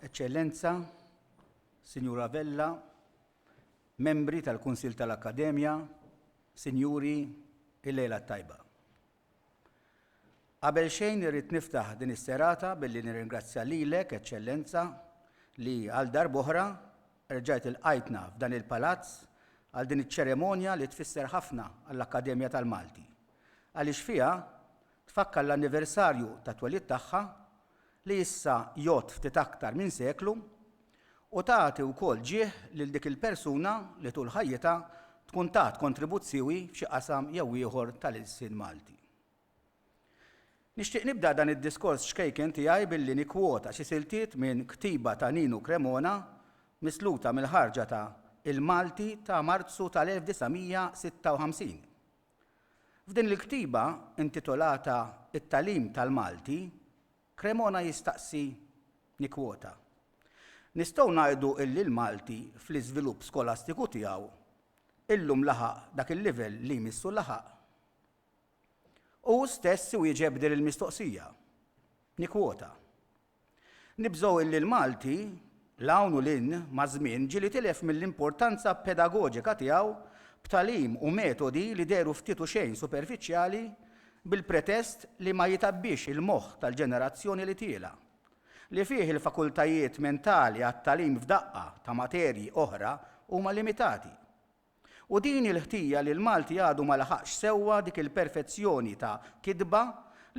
Eċċellenza, Sinjura Vella, Membri tal-Kunsill tal-Akkademja, Sinjuri, il-lejla t-tajba. Qabel xejn irrid niftaħ din is-serata billi nirringrazzja lilek, Eċċellenza, li għal darb'oħra erġajt ilqajtna f'dan il-palazz għal din iċ-ċeremonja li tfisser ħafna għall-Akkademja tal-Malti, għaliex fiha tfakkar l-anniversarju tat-twelid tagħha li issa jgħodd ftit aktar minn seklu, u tagħti wkoll ġieħ lil dik il-persuna li tul ħajjitha tkun tat kontribuzzjoi f'xi qasam jew ieħor tal-ilsien Malti. Nixtieq nibda dan id-diskors ċkejken tiegħi billi nikkwota xi siltiet minn ktiba ta' Ninu Cremona misluta mill-ħarġa ta' Il-Malti ta' Marzu tal-1956. F'din il-ktiba, intitolata It-Tagħlim tal-Malti, Cremona jistaqsi, nikkwota, Nistgħu ngħidu li l-Malti fl-iżvilupp skolastiku tiegħu illum laħaq dak il-livell li jmissu laħaq? Hu stess iwieġeb din il-mistoqsija, nikkwota, Nibżgħu illi l-Malti, 'l hawn u 'l hinn, maż-żmien, ġieli tilef mill-importanza pedagoġika tiegħu b'tagħlim u metodi li dehru ftit u xejn superfiċjali bil-pretest li ma jitgħabbiex il-moħħ tal-ġenerazzjoni li tiela', li fih il-fakultajiet mentali għat-tagħlim f'daqqa ta' materji oħra huma limitati. U din hi l-ħtija li l-Malti għadu ma laħaqx sewwa dik il-perfezzjoni ta' kitba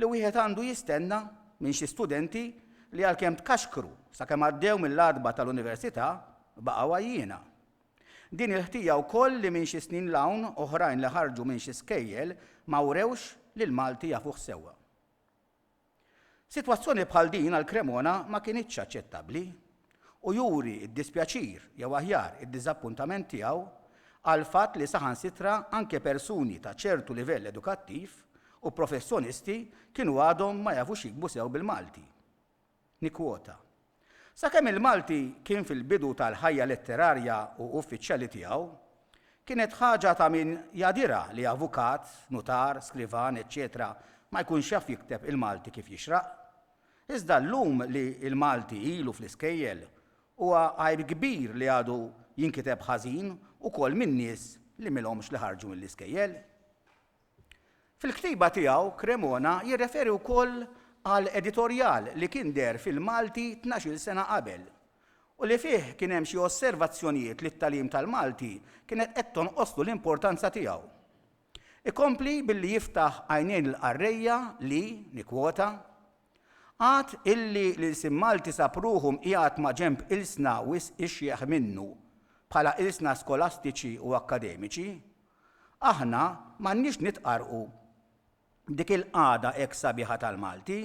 li wieħed għandu jistenna minn xi studenti li għalkemm tkaxkru sakemm għaddew mill-għatba tal-Università, baqgħu għajjiena. Din il-ħtija wkoll li minn xi snin 'l hawn oħrajn li ħarġu minn xi skejjel ma wrewx li l-Malti jafuh sewwa. Sitwazzjoni bħal din għal Cremona ma kinitx aċċettabbli u juri d-dispjaċir jew aħjar id-diżappuntament tiegħu għall-fatt li saħansitra anke persuni ta' ċertu livell edukattiv u professjonisti kienu għadhom ma jafux jiktbu sew bil-Malti. Nikkwota. Sakemm il-Malti kien fil-bidu tal-ħajja letterarja u uffiċjali tiegħu, kienet ħaġa ta' min jadira li avukat, nutar, skrivan, eċċetera ma jkunx jaf jikteb il-Malti kif jixraq. Iżda llum li l-Malti ilu fl-iskejjel, huwa għajr kbir li għadu jinkiteb ħażin ukoll min-nies li m'ilhomx li ħarġu mill-iskejjel. Fil-ktiba tiegħu Cremona jirreferi wkoll għal editorjal li kien deher fil-Malti tnax-il sena qabel u li fih kien hemm xi osservazzjonijiet li t-tagħlim tal-Malti kienet qed tonqoslu l-importanza tiegħu. Ikompli billi jiftaħ għajnejn il-qarrejja li, nikkwota, Għad illi l-ilsien Malti sab ruħu mqiegħed maġenb ilsna wisq ixjeħ minnu bħala ilsna skolastiċi u akkademiċi, Aħna m'għandniex nitqarrqu b'dik il-qagħda hekk sabiħa tal-Malti,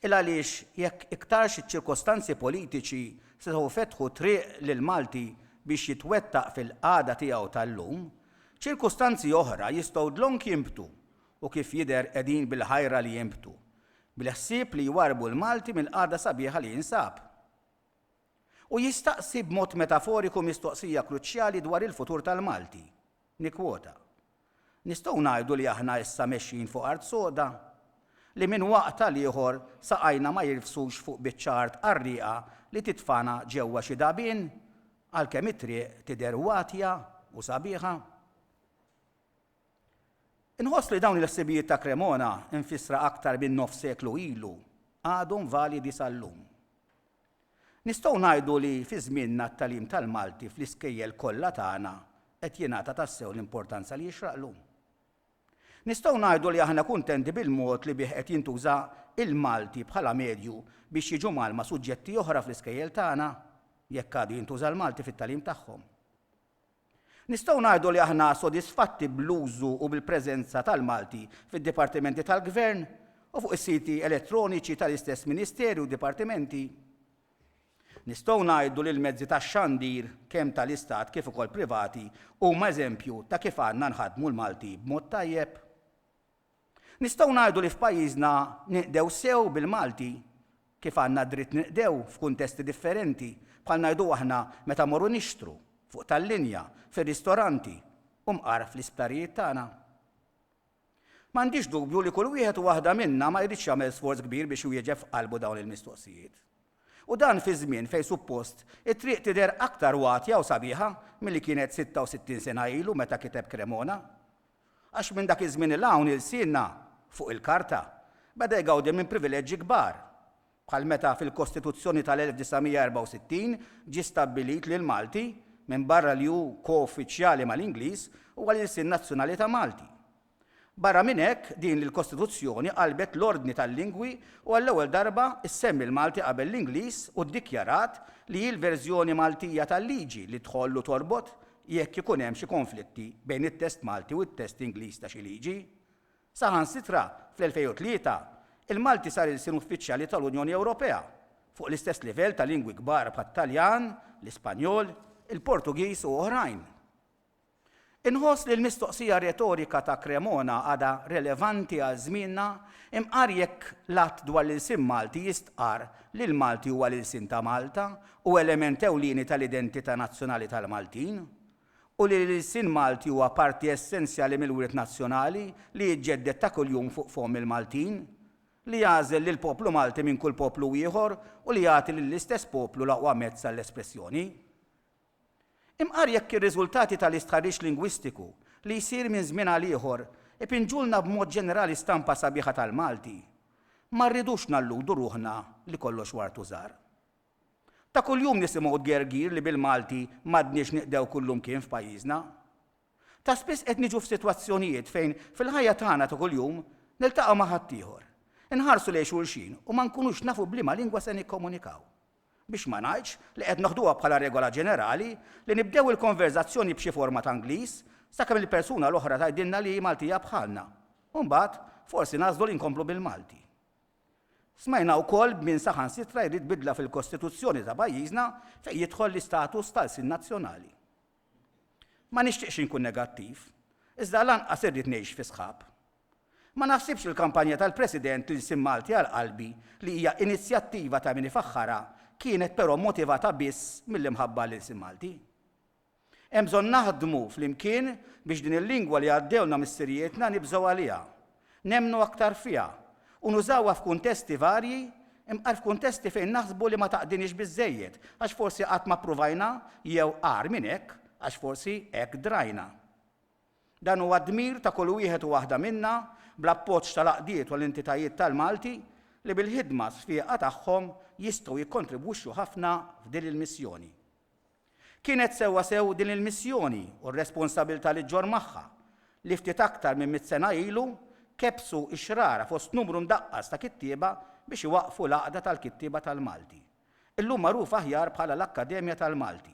il-għaliex jekk iktarx iċ-ċirkostanzi politiċi setgħu jfetħu triq lill-Malti biex jitwettaq fil-qagħda tiegħu tal-lum, ċirkustanzi oħra jistgħu dlonk jinbtu u kif jidher qegħdin bil-ħajra li jinbtu, bil-ħsieb li jwarrbu l-Malti mill-qagħda sabiħa li jinsab. u jistaqsi b'mod metaforiku mistoqsija kruċjali dwar il-futur tal-Malti. Nikkwota, Nistgħu ngħidu li aħna issa mexjin fuq art soda? Li minn waqt għal ieħor saqajna ma jirfsux fuq biċċa art qarrieqa li titfagħna ġewwa xi dagħbien, għalkemm it-triq tidher watja u sabiħa? Inħoss li dawn il-ħsibijiet ta' Cremona, imfissra aktar minn nofs seklu ilu, għadhom validi sal-lum. Nistgħu ngħidu li fi żmienna t-tagħlim tal-Malti fl-iskejjel kollha tagħna qed jingħata tassew l-importanza li jixraqlu. Nistgħu ngħidu li aħna kuntenti bil-mod li bih qed jintuża l-Malti bħala medju biex jiġu mgħallma suġġetti oħra fl-iskejjel tagħna, jekk għadu jintuża l-Malti fit-tagħlim tagħhom. Nistgħu ngħidu li aħna sodisfatti bl-użu u bil-preżenza tal-Malti fid-dipartimenti tal-Gvern u fuq is-siti elettroniċi tal-istess Ministeri u dipartimenti? Nistgħu ngħidu li l-mezzi tax-xandir, kemm tal-Istat kif ukoll privati, huma eżempju ta' kif għandna nħaddmu l-Malti b'mod tajjeb? Nistgħu ngħidu li f'pajjiżna ninqdew sew bil-Malti kif għandna dritt ninqdew f'kuntesti differenti bħal ngħidu aħna meta mmorru nixtru, fuq tal-linja, fir-ristoranti u mqar fl-isptarijiet tagħna? M'għandix dubju li kull wieħed u waħda minna ma jridx jagħmel sforz kbir biex iwieġeb f'qalbu dawn il-mistoqsijiet. U dan fi żmien fejn suppost it-triq tidher aktar watja u sabiħa milli kienet 66 sena ilu meta kiteb Cremona. Għax minn dak iż-żmien 'il hawn ilsienna, fuq il-karta, beda jgawdi minn privileġġi kbar. Bħal meta fil-Kostituzzjoni tal-1964 ġie stabbilit li l-Malti, minbarra li hu ko-uffiċjali mal-Ingliż, huwa l-ilsien nazzjonali ta' Malti. Barra minn hekk, din il-Kostituzzjoni qalbet l-ordni tal-lingwi u għall-ewwel darba ssemmi l-Malti qabel l-Ingliż u ddikjarat li hi l-verżjoni Maltija tal-liġi li tħoll u torbot jekk ikun hemm xi konflitti bejn it-test Malti u t-test Ingliż ta' xi liġi. Saħansitra, fl-2003, il-Malti sar ilsien uffiċjali tal-Unjoni Ewropea, fuq l-istess livell ta' lingwi kbar bħat-Taljan, l-Ispanjol, il-Portugiż u oħrajn. Inħoss li l-mistoqsija retorika ta' Cremona għadha relevanti għal żmienna imqar jekk l-Att dwar l-Ilsien Malti jistqarr li l-Malti huwa l-ilsien ta' Malta Hu element ewlieni tal-identità nazzjonali tal-Maltin u li l-ilsien Malti huwa parti essenzjali mill-wirt nazzjonali li jiġġedded ta' kuljum fuq fomm il-Maltin, li jagħżel lill-poplu Malti minn kull poplu ieħor u li jagħti lill-istess poplu l-aqwa mezz għall-espressjoni. Imqar jekk ir-riżultati tal-istħarriġ lingwistiku li jsir minn żmien għal ieħor ipinġulna b'mod ġenerali stampa sabiħa tal-Malti, ma rridux nalludu ruħna li kollox wartu żahar. Ta' kuljum nisimgħu tgergir li bil-Malti m'għadniex niqdew kullumkien f'pajjiżna. Ta' spiss qed niġu f'sitwazzjonijiet fejn fil-ħajja tagħna ta' kuljum niltaqgħu ma' ħaddieħor, inħarsu lejn xulxin u ma nkunux nafu b'liema lingwa se nikkomunikaw. Biex ma ngħidx li qed noħduha bħala regola ġenerali li nibdew il-konverżazzjoni b'xi forma ta' Ingliż sakemm il-persuna l-oħra tgħidilna li hi Maltija bħalna u mbagħad forsi nagħżlu li nkomplu bil-Malti. Smajna wkoll b'min saħansitra jrid bidla fil-Kostituzzjoni ta' pajjiżna fejn jidħol l-istatus ta' lsien nazzjonali. Ma nixtieqx inkun negattiv, iżda lanqas irrid ngħix fi sħab. Ma naħsibx li l-kampanja tal-President L-Ilsien Malti għal Qalbi li hija inizjattiva ta' min ifaħħarha kienet però motivata biss mill-imħabba għall-ilsien Malti. Hemm bżonn naħdmu flimkien biex din il-lingwa li għaddewlna missirijietna nibżgħu għaliha, nemmnu aktar fiha, u nużawha f'kuntesti varji, imqar f'kuntesti fejn naħsbu li ma taqdiniex biżżejjed għax forsi qatt ma ppruvajna jew agħar minn hekk għax forsi hekk drajna. Dan huwa d-dmir ta' kull wieħed u waħda minna bl-appoġġ tal-għaqdiet u l-entitajiet tal-Malti li bil-ħidma sfieqa tagħhom jistgħu jikkontribwixxu ħafna f'din il-missjoni. Kienet sewwasew din il-missjoni u r-responsabilità li ġġorr magħha li ftit aktar minn mitt sena ilu kebbsu x-xrara fost numru mdaqqas ta' kittieba biex iwaqqfu l-Għaqda tal-Kittieba tal-Malti, illum magħrufa aħjar bħala l-Akkademja tal-Malti,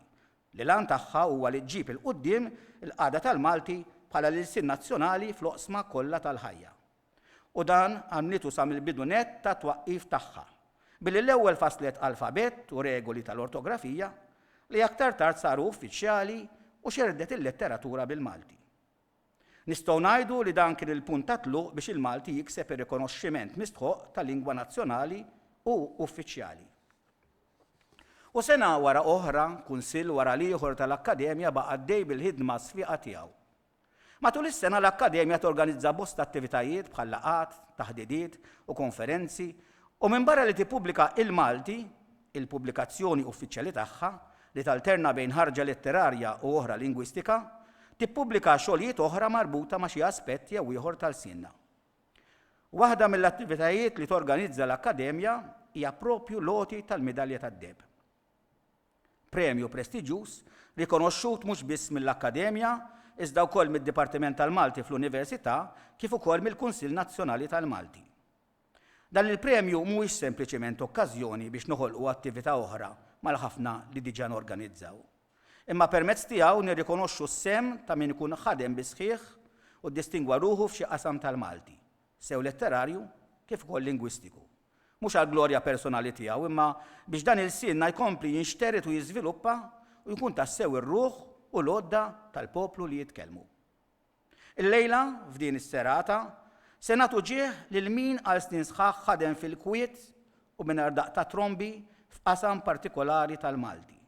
li l-għan tagħha huwa li ġġib 'il quddiem il-qagħda tal-Malti bħala l-ilsien nazzjonali fl-oqsma kollha tal-ħajja. U dan għamlitu sa mill-bidu nett tat-twaqqif tagħha, billi l-ewwel fasslet alfabett u regoli tal-ortografija, li aktar tard saru uffiċjali u xerrdet il-letteratura bil-Malti. Nistgħu ngħidu li dan kien il-punt ta' tluq biex il-Malti jikseb ir-rikonoxximent mistħoqq ta' lingwa nazzjonali u uffiċjali. U sena wara oħra, kunsill wara l-ieħor tal-Akkademja baqa' għaddej bil-ħidma sfiqa tiegħu. Matul is-sena l-Akkademja torganizza bosta attivitajiet bħal laqgħat, taħdidiet u konferenzi u minbarra li tippubblika Il-Malti, il-pubblikazzjoni uffiċjali tagħha, li talterna bejn ħarġa letterarja u oħra lingwistika, tippubblika xogħlijiet oħra marbuta ma' xi aspett jew ieħor ta' lsienna. Waħda mill-attivitajiet li torganizza l-Akkademja hija proprju l-għoti tal-Midalja tad-Deheb. Premju prestiġjuż, rikonoxxut mhux biss mill-Akkademja, iżda wkoll mid-Dipartiment tal-Malti fl-Università kif ukoll mill-Kunsill Nazzjonali tal-Malti. Dan il-premju mhuwiex sempliċement okkażjoni biex noħolqu attività oħra mal-ħafna li diġà norganizzaw, imma permezz tiegħu nirrikonoxxu s-sehem ta' min ikun ħadem bis-sħiħ u ddistingwa ruħu f'xi qasam tal-Malti, sew letterarju kif ukoll lingwistiku. mhux għall-glorja personali tiegħu imma biex dan ilsienna jkompli jinxtered u jiżviluppa u jkun tassew ir-ruħ u l-għodda tal-poplu li jitkellmu. Illejla, f'din is-serata, se nagħtu ġieħ lil min għal snin sħaħ ħadem fil-kwiet u mingħajr daqq ta' trombi f'qasam partikolari tal-Malti.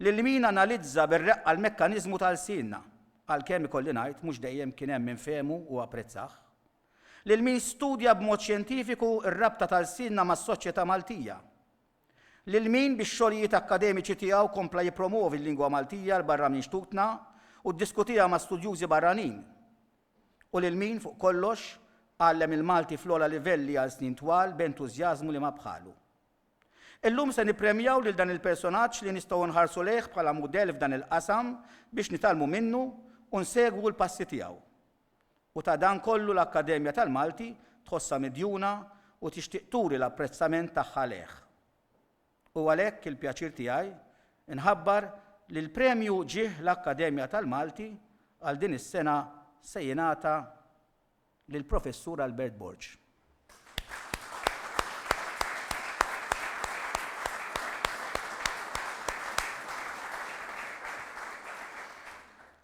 Lil min analizza bir-reqqa l-mekkaniżmu ta' lsienna, għalkemm ikolli ngħid mhux dejjem kien hemm min fehmu u apprezzah. lil min studja b'mod xjentifiku r-rabta ta' lsienna mas-soċjetà Maltija, lil min bix-xogħlijiet akkademiċi tiegħu kompla jippromwovi l-lingwa Maltija 'l barra minn xtutna u ddiskutiha ma' studjużi barranin, u lil min, fuq kollox, għallem il-Malti fl-ogħla livelli għal snin twal b'entużjażmu li ma bħalu. Illum se nippremjaw lil dan il-personaġġ li nistgħu nħarsu lejh bħala mudell f'dan il-qasam biex nitgħallmu minnu u nsegwu l-passi tiegħu. U ta' dan kollu l-Akkademja tal-Malti tħossha midjuna u tixtieq turi l-apprezzament tagħha lejh. Hu għalhekk il-pjaċir tiegħi nħabbar li l-premju ġieħ l-Akkademja tal-Malti għal din is-sena se jingħata lill-Professur Albert Borg.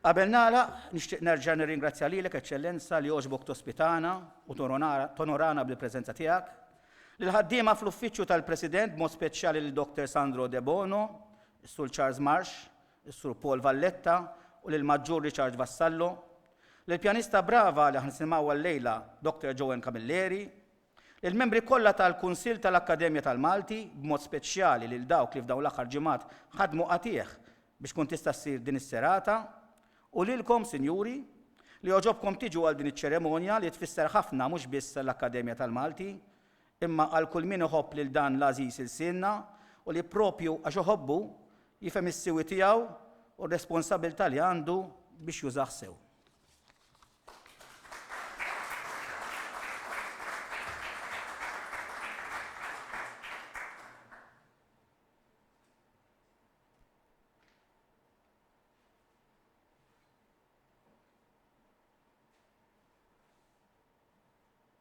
Qabel nagħlaq, nixtieq nerġa' nirringrazzja lilek Eċċellenza li għoġbok tospitana u tonorana bil-preżenza tiegħek, lil ħaddiema fl-Uffiċċju tal-President b'mod speċjali lil Dr. Sandro Debono, Sul Charles Marsh, lis-Sur Paul Valletta u lill-Maġġur Richard Vassallo, lill-pjanista brava li ħa nisimgħuha llejla Dr. Joan Camilleri, lill-membri kollha tal-Kunsill tal-Akkademja tal-Malti, b'mod speċjali lil dawk li f'dawn l-aħħar ġimgħat ħadmu qatigħ biex tkun tista' ssir din is-serata, u lilkom, Sinjuri, li għoġobkom tiġu għal din iċ-ċeremonja li tfisser ħafna mhux biss għall-Akkademja tal-Malti, imma għal kull min iħobb lil dan l-għażiż ilsienna u li proprju għax iħobbu, jifhem is-siwi tiegħu u r-responsabilità li għandu biex jużah sew.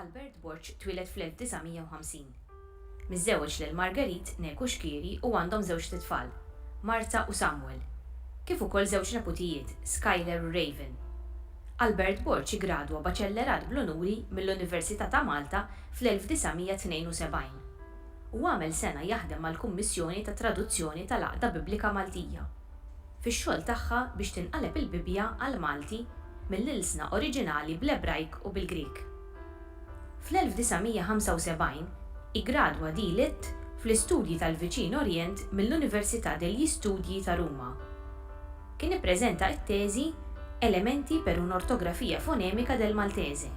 Albert Borg twieled fl-1950. Miżżewweġ lil Marguerite Neku Xkieri u għandhom żewġt itfal, Marta u Samuel, kif ukoll żewġ neputijiet, Skyler u Raven. Albert Borg iggradwa baċellerat bl-unuri mill-Università ta' Malta fl-1972 u għamel sena jaħdem mal-Kummissjoni tat-Traduzzjoni tal-Għaqda Biblika Maltija. fix-xogħol tagħha biex tinqaleb il-Bibbja għall-Malti mill-ilsna oriġinali bl-Ebrajk u bil-Grieg. Fl-1975 iggradwa di Litt fl-Istudji tal-Viċin Orjent mill-Università degli Studi ta' Ruma. Kien ippreżenta it-teżi Elementi per un'ortografia fonemika del Maltese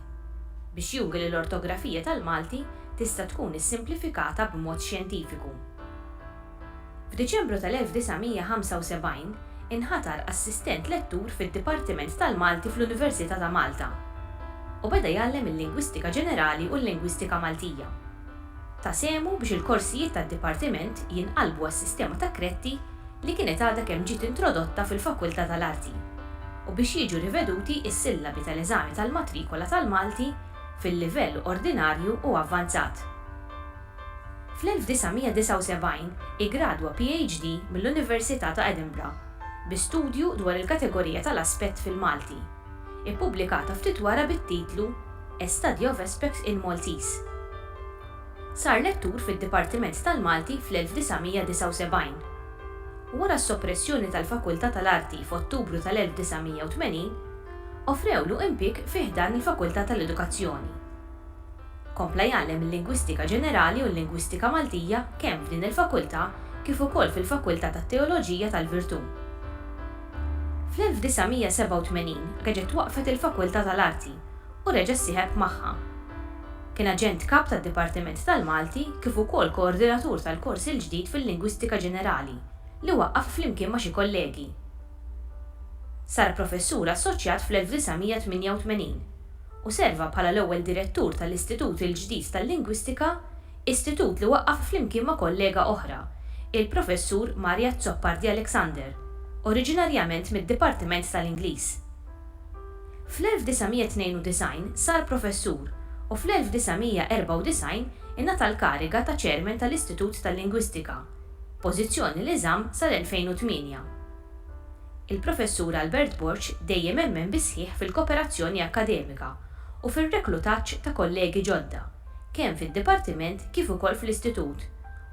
biex juri li l-ortografija tal-Malti tista' tkun issimplifikata b'mod xjentifiku. F'Diċembru tal-1975, inħatar assistent lettur fid-Dipartiment tal-Malti fl-Università ta' Malta, u beda jgħallem il-Lingwistika Ġenerali u l-Lingwistika Maltija. Ta sehmu biex il-korsijiet tad-Dipartiment jinqalbu għas-sistema ta' kretti li kienet għadha kemm ġiet introdotta fil-Fakultà tal-Arti, u biex jiġu riveduti s-sillabi tal-eżami tal-matrikola tal-Malti fil-livell ordinarju u avvanzat. Fl-1979 iggradwa PhD mill-Università ta' Edinburgh bi studju dwar il-kategorija tal-aspett fil-Malti, ippubblikata ftit wara bit-titlu A Study of Aspect in Maltese. Sar lettur fid-Dipartiment tal-Malti fl-1979. Wara s-soppressjoni tal-Fakultà tal-Arti f'Ottubru tal-1980, offrewlu impieg fi ħdan il-Fakultà tal-Edukazzjoni. Kompla jgħallem il-Lingwistika Ġenerali u l-Lingwistika Maltija kemm f'din il-Fakultà kif ukoll fil-Fakultà tat-Teoloġija tal-Virtù. Fl-1987 reġgħet twaqqfet il-Fakultà tal-Arti u reġa' ssieħeb magħha. Kien Aġent Kap tad-Dipartiment tal-Malti kif ukoll Koordinatur tal-kors il-ġdid fil-Lingwistika Ġenerali li waqqaf flimkien ma' xi kollegi. Sar Professur Assoċjat fl-1988. u serva bħala l-ewwel direttur tal-Istitut il-ġdid tal-Lingwistika, istitut li waqqaf flimkien ma' kollega oħra, il-Professur Mario Azzopardi Alexander, oriġinarjament mid-Dipartiment tal-Ingliż. Fl-1992 sar professur u fl-1994 ingħata l-kariga ta' Chairman tal-Istitut tal-Lingwistika, pożizzjoni li żamm sal-2008. Il-Professur Albert Borg dejjem emmen bis-sħiħ fil-koperazzjoni akkademika u fir-reklutaġġ ta' kollegi ġodda, kemm fid-Dipartiment kif ukoll fl-Istitut,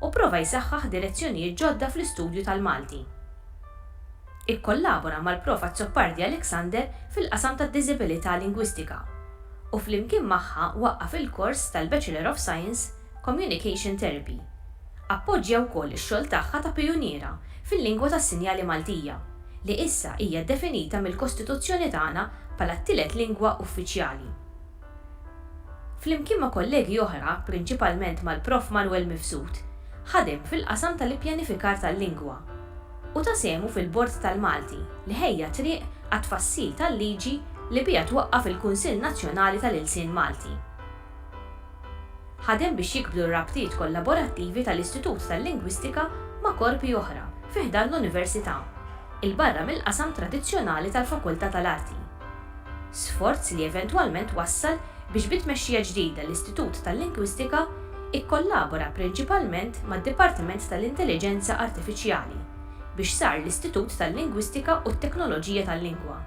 u pprova jsaħħaħ direzzjonijiet ġodda fl-istudju tal-Malti. Ikkollabora mal-Prof. Azzopardi Alexander fil-qasam tad-Diżibilità Lingwistika, u flimkien magħha waqqaf il-kors tal-Bachelor of Science Communication Therapy. Appoġġja wkoll ix-xogħol tagħha ta' pijuniera fil-lingwa tas-sinjali Maltija, li issa hija ddefinita mill-Kostituzzjoni tagħna bħala t-tielet lingwa uffiċjali. Flimkien ma' kollegi oħra, prinċipalment mal-Prof. Manwel Mifsud, ħadem fil-qasam tal-ippjanifikar tal-lingwa u ta sehmu fil-Bord tal-Malti li ħejja t-triq għat-tfassil tal-liġi li biha twaqqaf il-Kunsill Nazzjonali tal-Ilsien Malti. Ħadem biex jikbru r-rabtiet kollaborattivi tal-Istitut tal-Lingwistika ma' korpi oħra fi ħdan l-Università, 'il barra mill-qasam tradizzjonali tal-Fakultà tal-Arti. Sforz li eventwalment wassal biex bi tmexxija ġdida l-Istitut tal-Lingwistika ikkollabora prinċipalment mad-Dipartiment tal-Intelliġenza Artifiċjali biex sar l-Istitut tal-Lingwistika u t-Teknoloġija tal-Lingwa.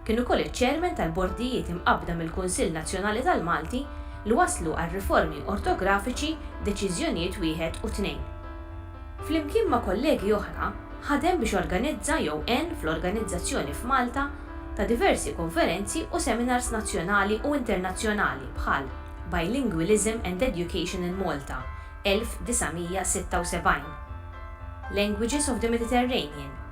Kien ukoll iċ-Chairman tal-Bordijiet imqabbda mill-Kunsill Nazzjonali tal-Malti li wasslu għal riformi ortografiċi Deċiżjonijiet Wieħed u Tnejn. Flimkien ma' kollegi oħra, ħadem biex organizza jew għen fl-organizzazzjoni f'Malta ta' diversi konferenzi u seminars nazzjonali u internazzjonali bħal Bilingualism and Education in Malta, 1976, Languages of the Mediterranean,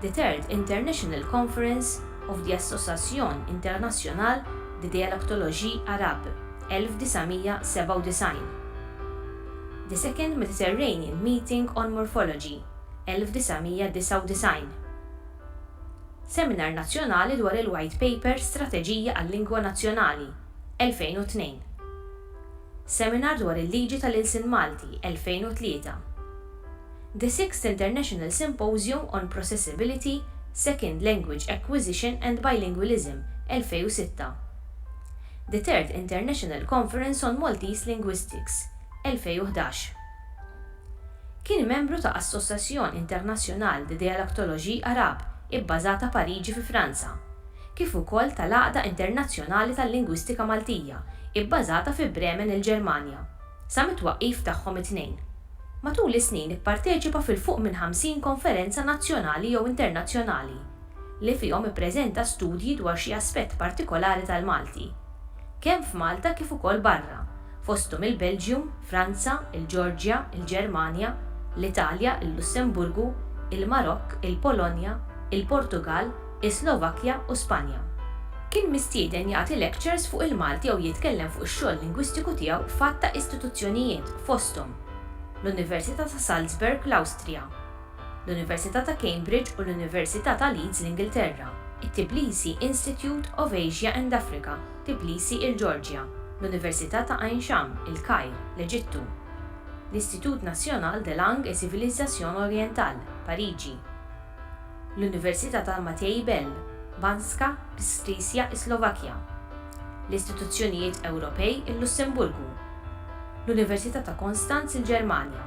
The Third International Conference of the Association Internationale de Dialectologie Arabe, 1997, The Second Mediterranean Meeting on Morphology, 1999, Seminar Nazzjonali dwar il-White Paper Strateġija għal-Lingwa Nazzjonali, 2002, Seminar dwar il-Liġi tal-Ilsien Malti, 2003. The Sixth International Symposium on Processability, Second Language Acquisition and Bilingualism, 2006. The Third International Conference on Maltese Linguistics, 2011. Kien membru ta' Association Internationale de Dialectologie Arabe ibbażata Pariġi fi Franza, kif ukoll tal-Għaqda Internazzjonali tal-Lingwistika Maltija ibbażata fi Bremen il-Ġermanja. sa mit-twaqqif tagħhom it-tnejn. Matul is-snin ipparteċipa fil-fuq minn 50 konferenza nazzjonali jew internazzjonali, li fihom ippreżenta studji dwar xi aspett partikolari tal-Malti, kemm f'Malta kif ukoll barra, fosthom il-Belġium, Franza, il-Ġeorġja, il-Ġermanja, l-Italja, il-Lussemburgu, il-Marokk, il-Polonja, il-Portugall, is-Slovakkja u Spanja. Kien mistieden jagħti lectures fuq il-Malti jew jitkellem fuq ix-xogħol lingwistiku tiegħu f'għadd ta' istituzzjonijiet, fosthom, l-Università ta' Salzburg, l-Awstrija, l-Università ta' Cambridge u l-Università ta' Leeds, l-Ingilterra, it-Tbilisi Institute of Asia and Africa, Tbilisi, il-Ġeorġja, l-Università ta' Ain Sham, il-Kajr, l-Eġittu, l-Institut National de Langues et Civilisations Orientales, Pariġi. l-Università ta' Matei Bell, Banska Bistricja is-Slovakkja, l-istituzzjonijiet Ewropej il-Lussemburgu, l-Università ta' Konstanz il-Ġermanja,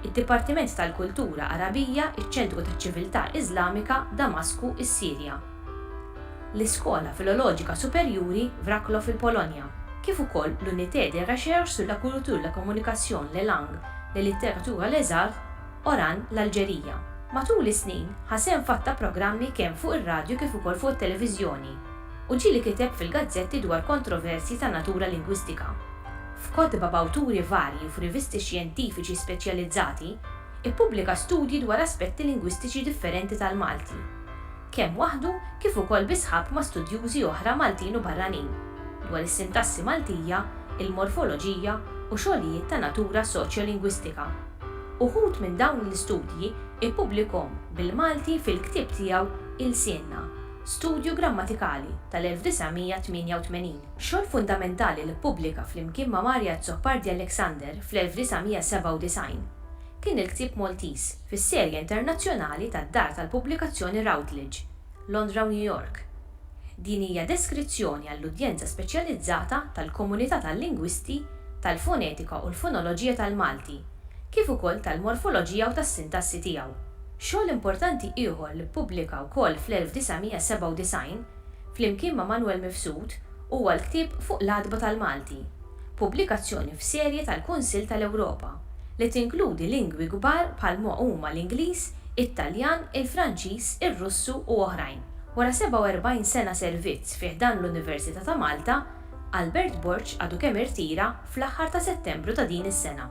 id-Dipartiment tal-Kultura Għarabija iċ-Ċentru taċ-Ċiviltà Iżlamika Damasku is-Sirja, l-Iskola Filoloġika Superjuri Wroclaw il-Polonja, kif ukoll l-Unité de Recherche sur la Culture, la Communication, les Langues, la Littérature et les Arts, Oran, l-Alġerija. Matul is-snin, ħa sehem f'għadd-ta' programmi kemm fuq ir-radju kif ukoll fuq it-televiżjoni, u ġieli kiteb fil-gazzetti dwar kontroversji ta' natura lingwistika. F'kotba b'awturi varji u f'rivisti xjentifiċi speċjalizzati, ippubblika studji dwar aspetti lingwistiċi differenti tal-Malti, kemm waħdu kif ukoll bi sħab ma' studjużi oħra Maltin u barranin, dwar is-sintassi Maltija, il-morfoloġija u xogħlijiet ta' natura soċjolingwistika. Uħud minn dawn l-istudji ippublikhom bil-Malti fil-ktieb tiegħu Ilsienna, Studju Grammatikali tal-1988. Xogħol fundamentali li ppubblika flimkien ma' Mario Azzopardi Alexander fl-1997 kien il-ktieb Maltiż fis-serje internazzjonali tad-dar tal-pubblikazzjoni Routledge, Londra u New York, Din hija deskrizzjoni għall-udjenza speċjalizzata tal-komunità tal-lingwisti tal-fonetika u l-fonoloġija tal-Malti, kif ukoll tal-morfoloġija u tas-sintassi tiegħu. Xogħol importanti ieħor li ppubblika wkoll fl-1997, flimkien ma' Manwel Mifsud, huwa l-ktieb Fuq l-Għatba tal-Malti, pubblikazzjoni f'serje tal-Kunsill tal-Ewropa, li tinkludi lingwi kbar bħal ma huma l-Ingliż, it-Taljan, il-Franċiż, ir-Russu u oħrajn. Wara 47 sena servizz fi ħdan l-Università ta' Malta, Albert Borg għadu kemm irtira fl-aħħar ta' Settembru ta' din is-sena.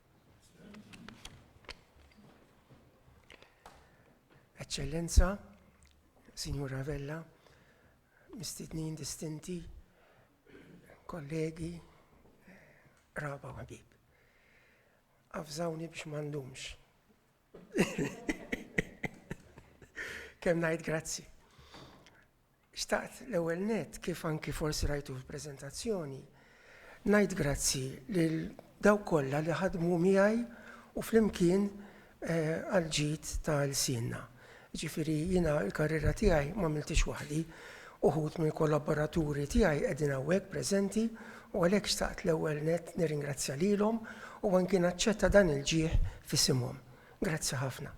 Eċċellenza, Signora Vella, mistednin distinti, kollegi, raba u ħabib. Afżawni biex mandumx Kemm ngħid grazzi. Xtaqt l-ewwel net kif anki forsi rajtu fil-preżentazzjoni, ngħid grazzi lil daw kollha li ħadmu miegħi u flimkien eh, għal-ġid tal-sinna. Jiġifieri jiena l-karriera tiegħi m'għamilthiex waħdi. Uħud mill-kollaboraturi tiegħi qegħdin hawnhekk preżenti u għalhekk xtaqt l-ewwel nett nirringrazzja lilhom u anki naċċetta dan il-ġieħ f'isimhom. Grazzi ħafna.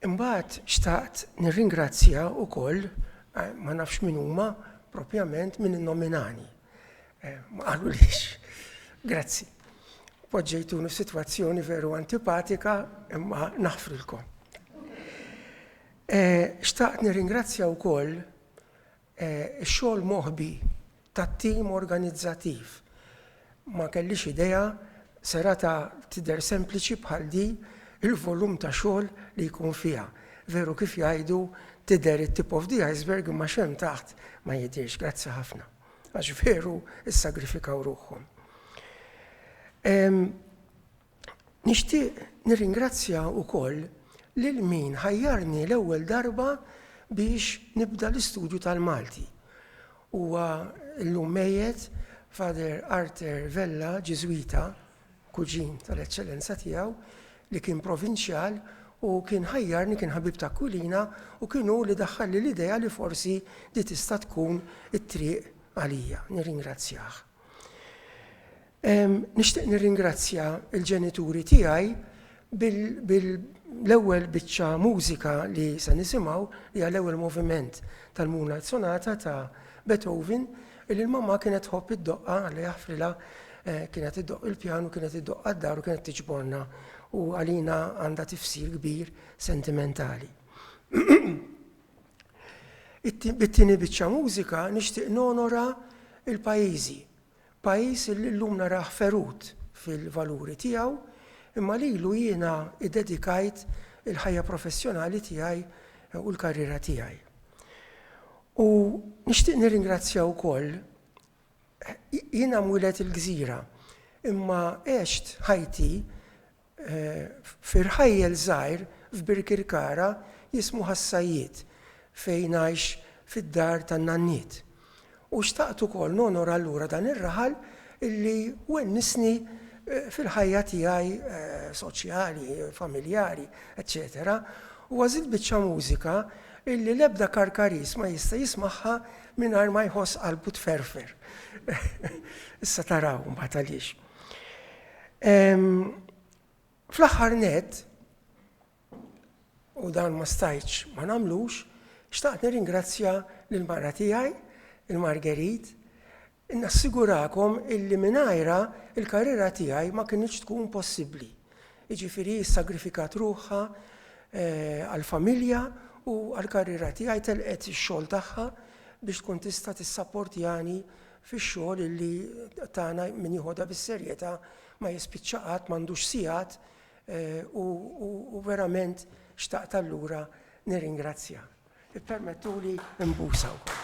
Imbagħad xtaqt nirringrazzja wkoll, ma nafx min huma propjament, min innominani. Eh, ma qalu lix, grazzi. Poġġejtunu situazzjoni veru antipatika imma naħfrilkom. Eh, xtaqt nirringrazzja wkoll eh, xogħol moħbi tat-tim organizzativ. Ma kellix idea Serata tidher sempliċi bħal din il-volum ta' xogħol li jkun fiha. Veru kif jgħidu tidher it-tip of the iceberg imma x'hemm taħt ma jidhirx. Grazzi ħafna. Għax veru issagrifikaw ruħhom. Nixtieq nirringrazzja wkoll lil min ħajjarni l-ewwel darba biex nibda l-istudju tal-Malti. Huwa llum mejjet Father Arthur Vella, Ġiżwita, kuġin tal-Eċċellenza tiegħu, li kien provinċjal u kien ħajjarni, kien ħabib ta' Aquilina u kien hu li daħħalli l-idea li forsi di tista' tkun it-triq għalija. Nirringrazzjah. Nixtieq nirringrazzja l-ġenituri tiegħi bil-ewwel biċċa mużika li se nisimgħu hija l-ewwel moviment tal-Moonlight Sonata ta' Beethoven li l-mamma kienet tħobb id-doqqa li jaħfrilha eh, kienet iddoq il-pjanu, kienet iddoq għad-dar u kienet tiġborna u għalina għandha tifsir kbir sentimentali. Bit-tieni biċċa mużika nixtieq nonora l-pajjiżi. Pajjiż li llum narah ferut fil-valuri tiegħu, imma lilu jiena iddedikajt il-ħajja professjonali tiegħi u l-karriera tiegħi. U nixtieq nirringrazzja wkoll, jiena mwieled il-gżira, imma għext ħajti Fi rħajjel żgħir f'Birkirkara jismu Ħas-Sajjied fejn għix fid-dar tan-nanniet. U xtaqt ukoll nonora allura dan ir-raħal li wennisni fil-ħajja tiegħi soċjali, familjari, eċċetera u għażilt biċċa mużika li l-ebda Karkariż ma jista' jismagħha mingħajr ma jħoss qalbu tferfer. Issa taraw imbagħad għaliex. Fl-aħħar nett, u dan ma stajtx ma nagħmlux, xtaqt nirringrazzja lil mara tiegħi, il-Margerit, nassigurakom illi mingħajra il-karriera tiegħi ma kinitx tkun possibbli. Jiġifieri sagrifikat ruħha eh, għall-familja u għall-karriera tiegħi telqet ix-xogħol tagħha biex tkun tista' tissapportjani fix-xogħol illi tagħna min jiħodha bis-serjetà ma jispiċċa qatt, m'għandux sigħat u verament xtaqt allura nirringrazzja. Ippermettuli nbusa wkoll.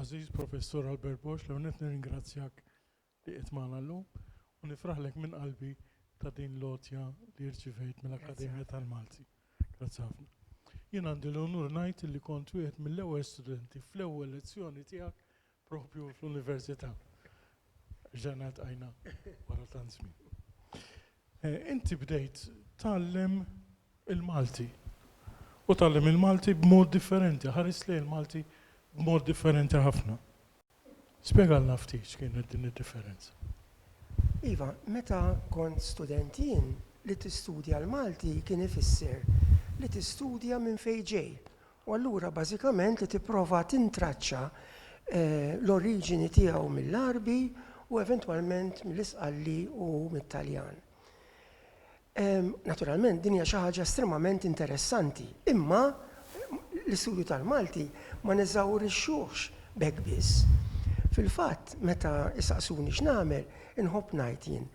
Għażiż Professur Albert Bosch, l-ewwel nett nirringrazzjak li qiegħed magħna llum u nifraħlek minn qalbi ta' din l-għotja li rċivejt mill-Akkademja tal-Malti. Grazzi ħafna. Jien għandi l-unur ngħid illi kont wieħed mill-ewwel studenti fl-ewwel lezzjoni tiegħek proprju fl-Università. Reġgħna ltqajna wara tant żmien. Inti bdejt tgħallem il-Malti u tgħallem il-Malti b'mod differenti, ħares lejn il-Malti b'mod differenti ħafna. Spjegalna ftit x'kienet din id-differenza. Iva, meta kont student jien, li tistudja l-Malti kien ifisser li tistudja minn fejn ġej u allura bażikament li tipprova tintraċċa l-oriġini tiegħu mill-Għarbi u eventwalment mill-Isqalli u mit-Taljan. Naturalment din hija xi ħaġa estremament interessanti, imma l-istudju tal-Malti ma neżawrixxuhx b'hekk biss. Fil-fatt, meta jsaqsuni x'nagħmel, inħobb ngħid jien,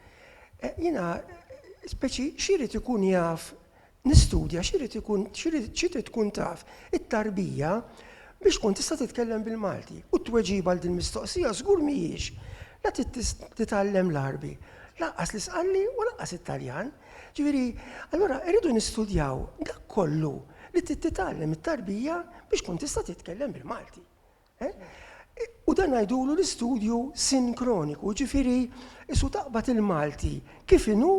jiena speċi x'irid ikun jaf nistudja, x'irid ikun x'irid tkun taf it-tarbija biex tkun tista' titkellem bil-Malti. U t-tweġiba għal din mistoqsija żgur mhijiex La trid titgħallem l-Għarbi, lanqas l-Isqanli u lanqas it-Taljan. Ġifieri, allura irridu nistudjaw dak kollu li trid titgħallem it-tarbija biex tkun tista' titkellem bil-Malti. Eh? U dan ngħidulu l-istudju sinkroniku, ġifieri isu taqbad il-Malti kif inhu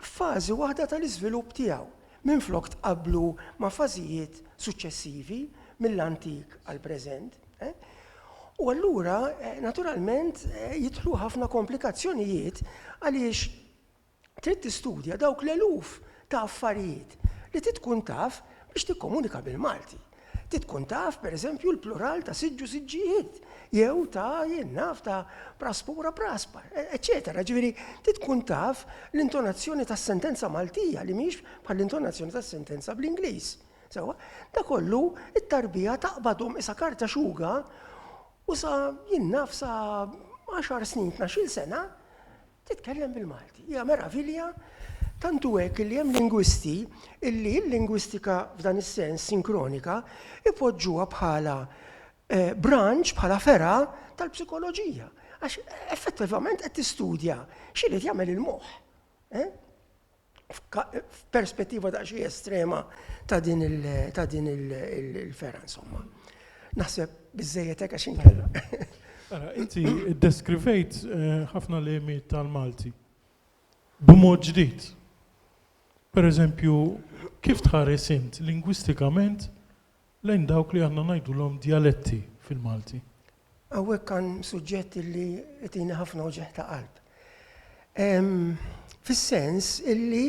f'fażi waħda tal-iżvilupp tiegħu, minflok tqabblu ma' fażijiet suċċessivi mill-antik għall-preżent. U allura, naturalment, jidħlu ħafna komplikazzjonijiet għaliex trid tistudja dawk l-eluf ta' affarijiet li trid tkun taf biex tikkomunika bil-Malti. Trid tkun taf, per eżempju, l-plural ta' siġġu siġġijiet, jew ta' jien naf ta' praspura praspa, eċetera. Ġifieri, trid tkun taf l-intonazzjoni tas-sentenza Maltija li mhix bħall-intonazzjoni tas-sentenza bl-Ingliż. Sewa, da kollu it-tarbija taqbadhom isa karta xuga u sa jien naf sa 10 snin, 12 sena, Titkellem bil-Malti. Hija meravilja tantu hekk li hemm lingwisti illi l-lingwistika f'dan is-sens sinkronika ipoġġuha bħala eh, branch, bħala fera tal-psikoloġija. Għax effettivament qed tistudja x'irid jagħmel il-moħħ. Eh? f'perspettiva ta' xi estrema ta' din il-fera, insomma. Naħseb biżejjed hekk għax inkella. Ara, inti iddeskrivejt eh, ħafna lemi tal-Malti. B'mod ġdid. Per eżempju, kif tħares int lingwistikament lejn dawk li aħna ngħidulhom djaletti fil-Malti. Hawnhekk għan suġġett li jtini ħafna uġigħ ta' qalb. Fis-sens illi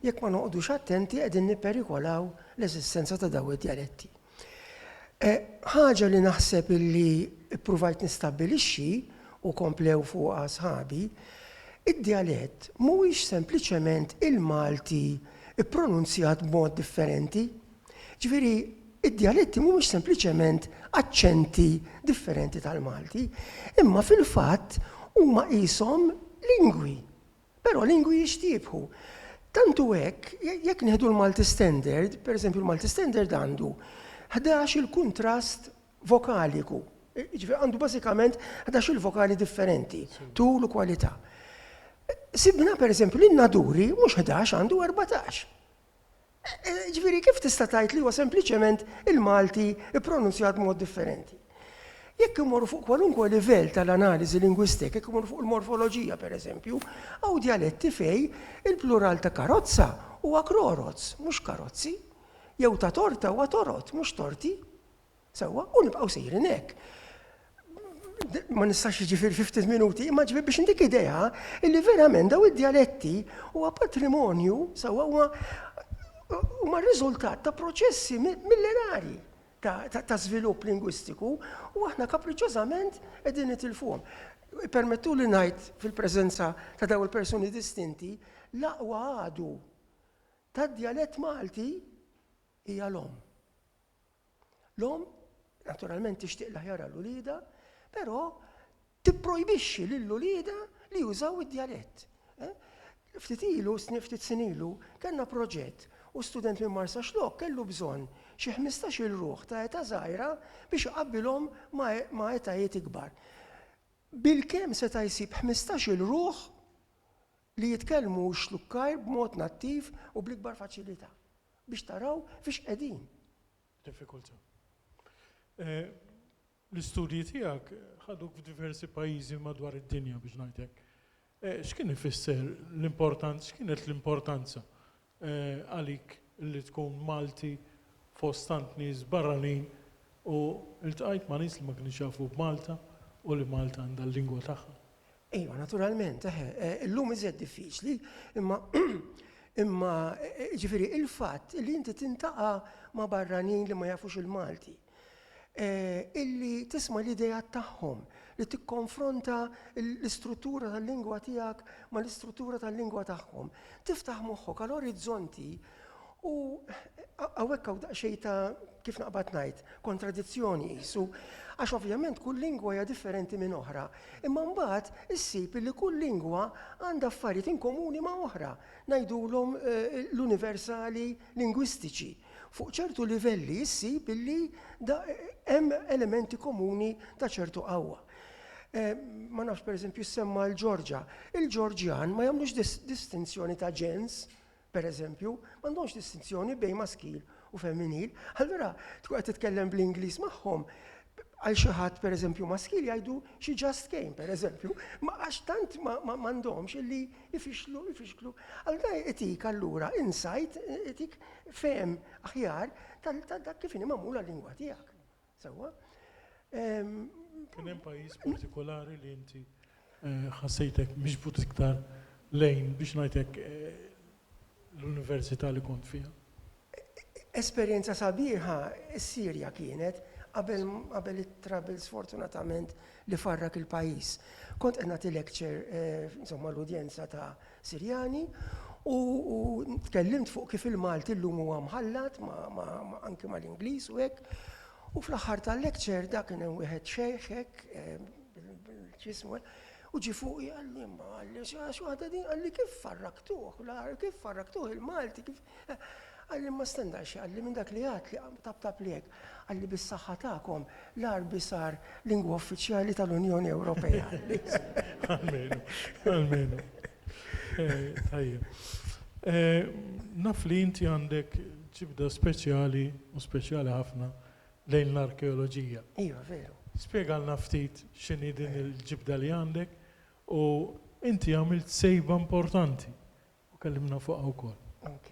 jekk ma noqgħodux attenti qegħdin nipperikolaw l-eżistenza ta' daw id-djaletti. Eh, ħaġa li naħseb illi ppruvajt nistabbilixxi u komplew fuqha sħabi, id-djalett mhuwiex sempliċement il-Malti ippronunzjat b'mod differenti Ġifieri, id-djaletti mhumiex sempliċement aċċenti differenti tal-Malti, imma fil-fatt huma qishom lingwi, però lingwi jixtiebħu. Tant hu hekk, jekk nieħdu l-Malti Standard, pereżempju l-Malti Standard għandu ħdax-il kuntrast vokaliku, jiġifieri għandu bażikament ħdax-il vokali differenti, tul u kwalità. Sibna pereżempju li n-Naduri mhux ħdax għandu erbatax. Ġifieri kif tista' tgħid li huwa sempliċement il-Malti ippronunzjat b'mod differenti? Jekk immorru fuq kwalunkwe livell tal-analiżi lingwistik, jekk immorru fuq il-morfoloġija pereżempju, hawn djaletti fej il-plural ta' karozza huwa kroroz, mhux karozzi, jew ta' torta huwa torot, mhux torti. Sewwa, u nibqgħu sejrin hekk. Ma nistax jiġifieri fi ftit minuti, imma ġifieri biex ndik idea illi verament daw id-djaletti huwa patrimonju sewwa huwa huma riżultat ta' proċessi millenari ta' żvilupp lingwistiku u aħna kapriċċożament qegħdin nitilfuhom. Permettu li ngħid fil-preżenza ta' daw il-persuni distinti l-aqwa għadu tad-djalett Malti hija l-omm. L-om naturalment tixtieq l-aħjar għal uliedha, però tipprojbixxi lil uliedha li jużaw id-djalett. Eh? Ftit ilu, ftit sinilu, kellna proġett u student minn Marsa Xlok kellu bżonn xi 15-il ruħ ta' eta żgħira biex iqabbilhom ma' etajiet ikbar. Bil-kemm seta' jsib 15-il ruħ li jitkellmu x-Xlukkajr b'mod nattiv u bl-ikbar faċilità, biex taraw fiex qegħdin. Diffikultà. L-istudji tiegħek ħaduk f'diversi pajjiżi madwar id-dinja biex ngħid hekk. X'kien ifisser l-importanza, x'kienet l-importanza għalik li tkun Malti fost tant nies barranin u ltqajt ma' nies li ma kinux jafu b'Malta u li Malta għandha l-lingwa tagħha. Ejwa, naturalment, eħe, illum iżjed diffiċli, imma imma jiġifieri l-fatt li inti tintaqa' ma' barranin li ma jafux il-Malti. illi tisma' l-ideat tagħhom, li tikkonfronta l-istruttura tal-lingwa tiegħek mal-istruttura tal-lingwa tagħhom. Tiftaħ moħħok għal orizzonti u hawnhekk hawn daqsxejn ta' kif naqbad ngħid, kontradizzjoni qisu, għax ovvjament kull lingwa hija differenti minn oħra, imma mbagħad issib li kull lingwa għandha affarijiet inkomuni ma' oħra, ngħidulhom l-universali, lingwistiċi, fuq ċertu livelli issib illi hemm elementi komuni ta' ċertu qawwa. Ma nafx pereżempju semma l-Ġorġa. Il-Ġorġjan ma jagħmlux distinzjoni ta' ġens, pereżempju, m'għandhomx distinzjoni bejn maskil u femminil. Allura tkun qed titkellem bl-Ingliż magħhom, Għal xi ħadd pereżempju maskil jgħidu she just came pereżempju, ma għax tant m'għandhomx illi ifixklu, ifixklu. Allura itik allura insight, itik fehem aħjar ta' dak kif inhi magħmula l-lingwa tiegħek. Sewwa? Kien hemm pajjiż partikolari li inti ħassejtek miġbud iktar lejn, biex ngħid hekk, l-università li kont fiha? Esperjenza sabiħa s-Sirja kienet, qabel it-troubles sfortunatament li farrak il-pajjiż. Kont qed nagħti lecture insomma l-udjenza ta' Sirjani u tkellimt fuq kif il-Malti llum huwa mħallat anke mal-Ingliż u hekk. U fl-aħħar tal-lecture da kien hemm wieħed xejħ hekk, x'ismu, u ġie fuqi qalli, imma qalli, għax waħda din qalli kif farraktuh, kif farraktuh il-Malti, kif. Qalli imma stenna xi qalli minn dak li għad li tabtabli hekk. Qalli bis-saħħa tagħkom l-Għarbi sar lingwa uffiċjali tal-Unjoni Ewropea. Almenu, almenu. Tajjeb. Naf li inti għandek Ġibda speċjali u speċjali ħafna lejn l-arkeoloġija. Iva, veru. Spjegalna ftit x'inhi din il-ġibda li għandek u inti għamilt sejba importanti u kellimna fuqha wkoll. Ok.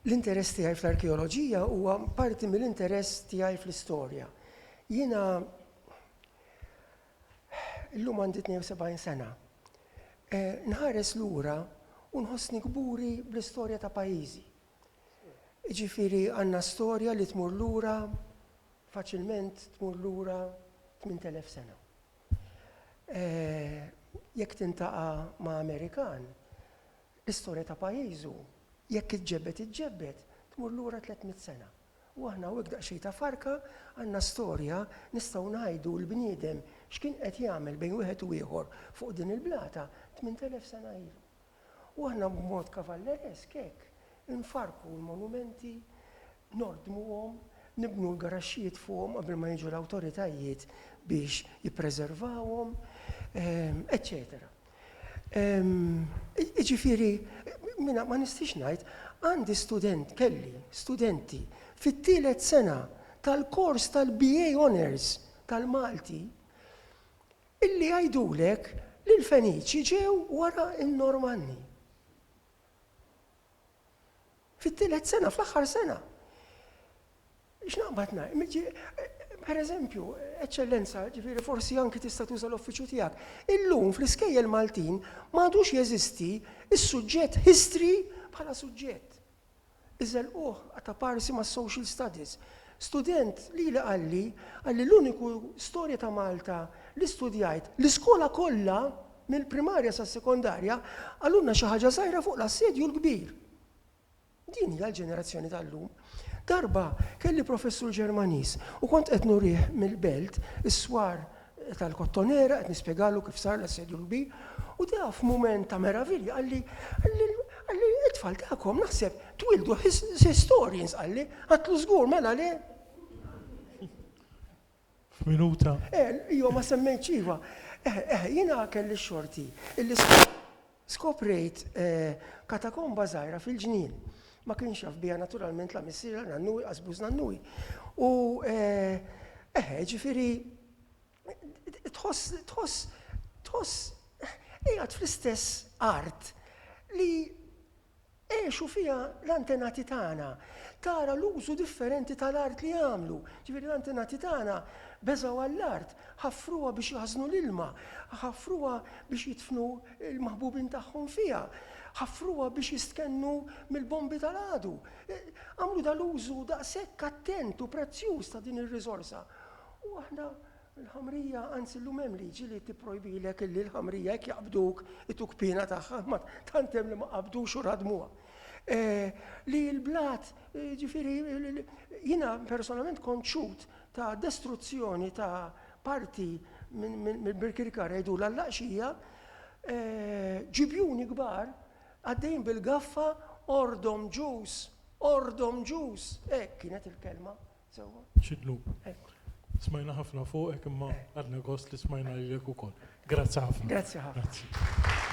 L-interess tiegħi fl-arkeoloġija huwa parti mill-interess tiegħi fl-istorja. Jiena illum għandi 72 sena. Nħares lura u nħossni kburi bl-istorja ta' pajjiżi. Jiġifieri għandna storja li tmur lura, faċilment tmur lura 8,000 sena. Jekk tintaqa' ma' Amerikan, l-istorja ta' pajjiżu, jekk iġġebbed iġġebbed, tmur lura 300 sena. U aħna hawnhekk daqsxejn ta' farka għandna storja nistgħu ngħidu l-bniedem x'kien qed jagħmel bejn wieħed u ieħor fuq din il-blata 8,000 sena ilu. U aħna b'mod kavalleresk hekk infarrku l-monumenti, nordmuhom, nibnu l-garaxxijiet fuqhom qabel ma jiġu l-awtoritajiet biex jippreservawhom, eċċetera. Jiġifieri, mina ma nistix ngħid, għandi student, kelli studenti fit-tielet sena tal-kors tal-BA Honours tal-Malti Illi jgħidulek li l-Feniċi ġew wara n-Normanni. Fit-tielet sena, fl-aħħar sena. X'naqbad ngħid? Per eżempju, Eċċellenza, ġifieri forsi anki tista' tuża l-uffiċċju tiegħek. Illum fl-iskejjel Maltin m'għadux jeżisti s-suġġett history bħala suġġett. Iżelquh qata' parsi mas-Social Studies. Student lili qalli, qalli l-uniku storja ta' Malta li studjajt, l-iskola kollha, mill-primarja sas-sekondarja, qalulna xi ħaġa żgħira fuq l-Assedju l-Kbir. Din hija l-ġenerazzjoni tal-lum. Darba kelli professur Ġermaniż u kont qed nurih mill-Belt, is-swar tal-Kottonera, qed nispjegalu kif sar l-Assedju NB, u da f'mument ta' meravilja qalli, qalli it-tfal tagħkom naħseb twildu historians qalli, għatlu żgur mela le. F'minuta. Eh, jo ma semmejtx iva. Eh, eh, jiena kelli xorti. Skoprejt katakomba żgħira fil-ġnien. Ma kienx jaf biha naturalment la missier la nannu inqas bu żnannuj. U eħe, ġifieri tħoss tħoss tħoss qiegħed fl-istess art li Għexu fiha l-antenati tagħna. Tara l-użu differenti tal-art li għamlu. Ġifieri l-antenati tagħna beżgħu għall-art, ħaffruha biex jaħżnu l-ilma, ħaffruha biex jidfnu l-maħbubin tagħhom fiha, ħaffruha biex jistkennu mill-bombi tal-għadu. Għamlu dal-użu daqshekk attent u prezzjuż ta' din ir-riżorsa. U aħna Il-ħamrija, anzi llum hemm liġi li tipprojbilek illi l-ħamrija jekk jaqbduk ituk piena tagħha, imma tant hemm li ma qabdux u radmuha. Li l-blat, ġifieri jiena personalment kont xhud ta' destruzzjoni ta' parti mill-Birkirkara jgħidulha l-Laqxija, ġibjuni kbar għaddejjin bil-gaffa, Ordhom Ġus! Ordhom Ġus! Hekk kienet il-kelma Sewwa. Xi dnub. Smajna ħafna fuqek imma ħadna gost li smajna lilek ukoll. Grazzi ħafna. Grazzi ħafna.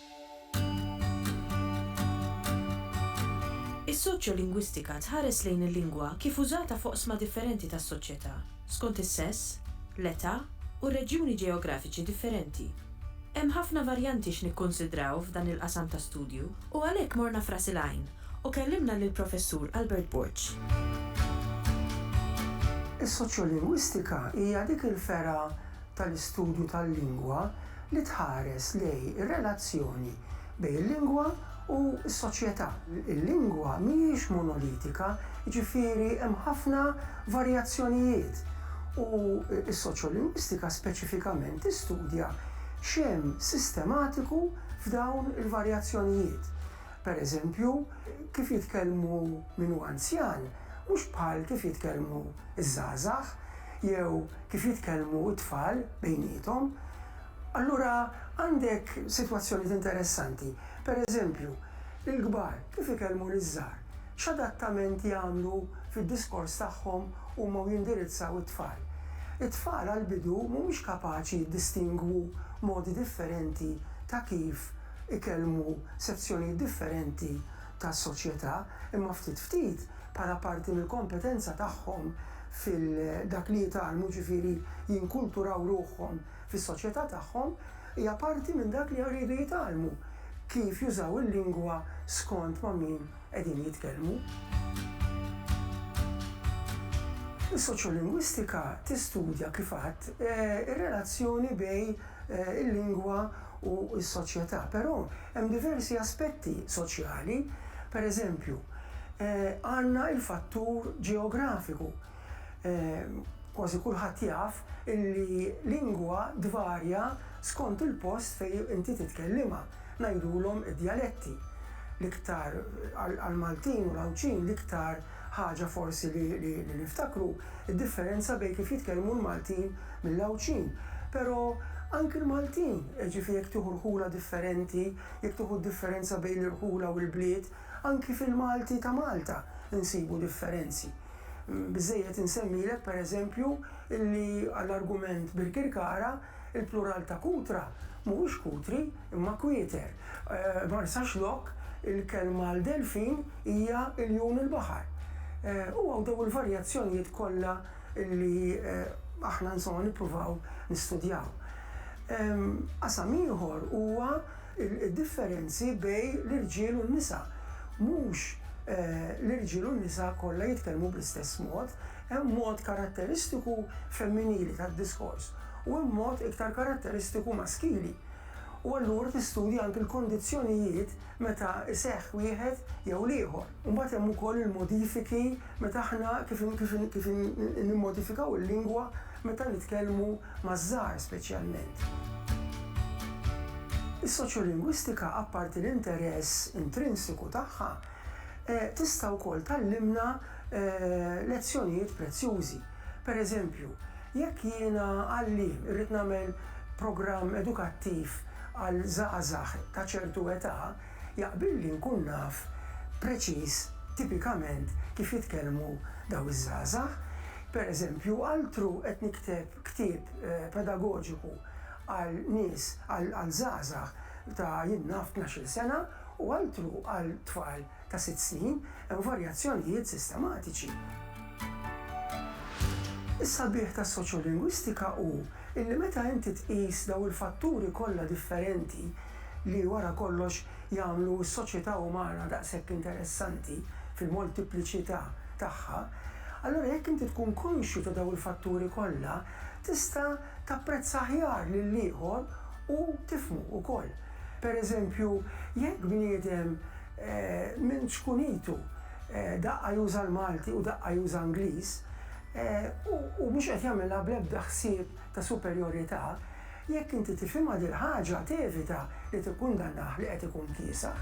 Is-soċjolingwistika tħares lejn il-lingwa kif użata f'oqsma differenti tas-soċjetà, skont is-sess, l-età u r-reġjuni ġeografiċi differenti. Hemm ħafna varjanti x'nikkunsidraw f'dan il-qasam ta' studju u għalhekk morna f'Ras il-Għajn u kellimna lill-Professur Albert Borg. Is-soċjolingwistika hija dik il-fergħa tal-istudju tal-lingwa li tħares lejn ir-relazzjoni bejn il-lingwa u s-soċjetà. Il-lingwa mhijiex monolitika, jiġifieri hemm ħafna varjazzjonijiet, u s-soċjolingwistika speċifikament tistudja x'hemm sistematiku f'dawn il-varjazzjonijiet. Pereżempju, kif jitkellmu min hu anzjan. mhux bħal kif jitkellmu ż-żgħażagħ jew kif jitkellmu t-tfal bejniethom. Allura għandek sitwazzjonijiet interessanti. Per eżempju, il-kbar kif ikellmu liż-żgħar? X'adattament jagħmlu fid-diskors tagħhom huma u jindirizzaw it-tfal? It-tfal għall-bidu mhumiex kapaċi jiddistingwu modi differenti ta' kif ikellmu sezzjonijiet differenti tas-soċjetà, imma ftit ftit, bħala parti mill-kompetenza tagħhom fil dak li jitgħallmu, ġifieri jinkulturaw ruħhom fis-soċjetà tagħhom, hija parti minn dak li jridu jitgħallmu, kif jużaw il-lingwa skont ma' min qegħdin jitkellmu. Is-soċjolingwistika tistudja, kif għadt, ir-relazzjoni bejn il-lingwa u s-soċjetà. Però hemm diversi aspetti soċjali, per eżempju, għandna il-fattur ġeografiku. Kważi kulħadd jaf illi lingwa tvarja skont il-post fejn inti titkellimha, ngħidulhom id-djaletti. L-iktar għall-Maltin u l-Għawdxin l-iktar Ħaġa forsi li li niftakru, id-differenza bejn kif jitkellmu l-Maltin mill-Għawdxin. Pero, anki l-Maltin, jiġifieri jekk tieħu rħula differenti, jekk tieħu d-differenza bejn l-irħula u l-bliet, anki fil-Malti ta' Malta nsibu differenzi. Biżżejjed insemmilek, per eżempju, illi għall-argument Birkirkara, Il-plural ta' kutra mhuwiex kutri, imma kwieter. Marsaxlokk, il-kelma għal delfin hija iljun il-baħar. U hawn dew il-varjazzjonijiet kollha li aħna insomma nippruvaw nistudjaw. Qasam ieħor huwa d-differenzi bejn l-irġiel u n-nisa. Mhux l-irġiel u n-nisa kollha jitkellmu bl-istess mod. Hemm mod karatteristiku femminili tad-diskors u hemm mod iktar karatteristiku maskili, u allura tistudja anki l-kondizzjonijiet meta jseħħ wieħed jew l-ieħor. Imbagħad hemm ukoll il-modifiki meta aħna kif kif nimmodifikaw il-lingwa meta nitkellmu maż-żgħar speċjalment. Is-soċjolingwistika apparti l-interess intrinsiku tagħha tista' wkoll tgħallimna lezzjonijiet prezzjużi. Per eżempju, jekk jiena għalliem irrid nagħmel programm edukattiv għal żgħażagħ ta' ċertu età, jaqbilli nkun naf preċiż tipikament kif jitkellmu dawn iż-żgħażagħ. Per eżempju, altru qed nikteb ktieb pedagoġiku għal nies, għal żgħażagħ ta' jien naf tnax-il sena, u altru għal tfal ta' sitt snin, hemm varjazzjonijiet sistematiċi. Is-sabiħ tas-soċjolingwistika hu illi meta inti tqis dawn il-fatturi kollha differenti li wara kollox jagħmlu s-soċjetà umana daqshekk interessanti fil-moltipliċità tagħha, allura jekk inti tkun konxju ta' dawn il-fatturi kollha tista' tapprezza aħjar lill-ieħor u tifhmu wkoll. Per eżempju, jekk bniedem minn ċkunitu daqqa juża l-Malti u daqqa juża Ingliż, u mhux qed jagħmilha bl-ebda ħsieb ta' superjorità, jekk inti tifhimha dil-ħaġa tevita li tikkundannah li qed ikun kiesaħ.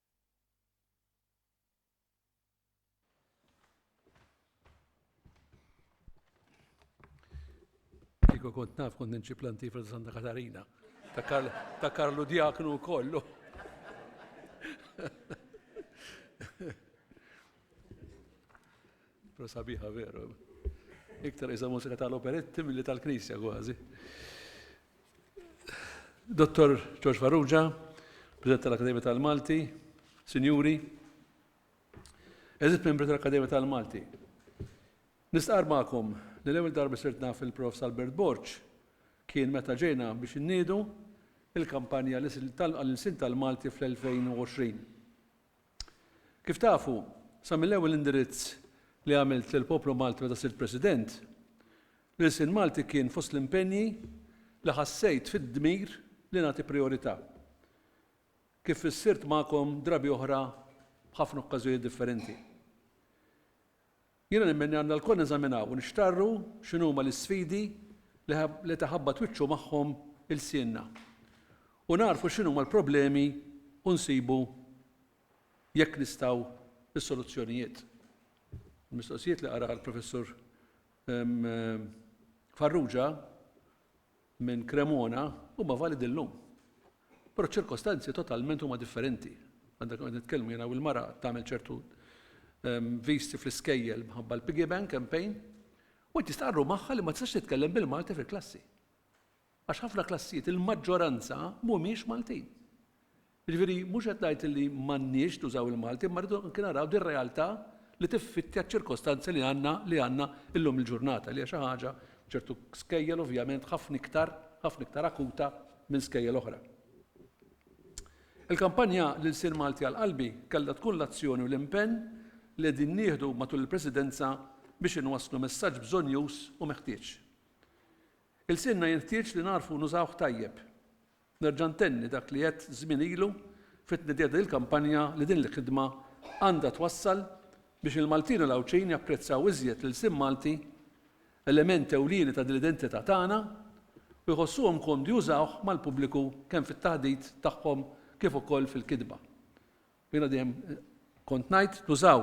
Kiko kont naf kont ninċi planti fil Santa Katarina. Ta' Karlu Diaknu kollu. Pro sabiħa veru. Iktar isa mużika tal-operetti milli tal-knisja kważi. Dottor George Farrugia, President tal-Akademja tal-Malti, Sinjuri, Eżit membri tal-Akademja tal-Malti. Nistqar magħkom li l-ewwel darba sirt naf il-Prof Salbert Borċ kien meta ġejna biex inniedu il-kampanja tal-insin tal-Malti fl-2020. Kif tafu, sa mill-ewwel indirizz li għamilt lill-poplu Malti meta sirt President, l-ilsien Malti kien fost l-impenji li ħassejt fid-dmir li nagħti prijorità. Kif fissirt magħkom drabi oħra b'ħafna okkażjonijiet differenti. Jiena nemmen li għandna lkoll neżaminaw u nixtarru x'inhuma l-isfidi li qed iħabbat wiċċu magħhom ilsienna u nagħrfu x'inhuma l-problemi u nsibu jekk nistgħu s-soluzzjonijiet. Il-mistoqsijiet li qara l-Professur Farrugia minn Cremona huma validi llum. Però ċ-ċirkostanzi totalment huma differenti. Għal dak li qed nitkellmu jiena u l-mara tagħmel ċertu viżti fl-iskejjel minħabba l-piggy bank campaign u int jistqarru magħha li ma tistax titkellem bil-Malti fil-klassi. Għax ħafna klassijiet il-maġġoranza mhumiex Maltin. Jiġifieri mhux qed ngħid li m'għandniex nużaw il-Malti imma rridu anki naraw din realtà li tiffittja ċ-ċirkostanzi li għandna li għandna llum il-ġurnata li hija xi ħaġa f'ċertu skejjel ovvjament ħafna iktar ħafna iktar akuta minn skejjel oħra. Il-kampanja L-Ilsien Malti għal Qalbi kellha tkun l-azzjoni u l-impenn li qegħdin nieħdu matul il-Presidenza biex inwasslu messaġġ bżonnjuż u meħtieġ. Ilsienna jenħtieġ li nagħrfu nużawh tajjeb. Nerġa' ntenni dak li għedt żmien ilu fit-tnedija ta' din il-kampanja li din il-ħidma għandha twassal biex il-Maltin u l-Għawdxin japprezzaw iżjed l-ilsien Malti, element ewlieni ta' din l-identità tagħna, u jħossuhom komdi jużawh mal-pubbliku kemm fit-taħdit tagħhom kif ukoll fil-kitba. Jiena dejjem kont ngħid nużaw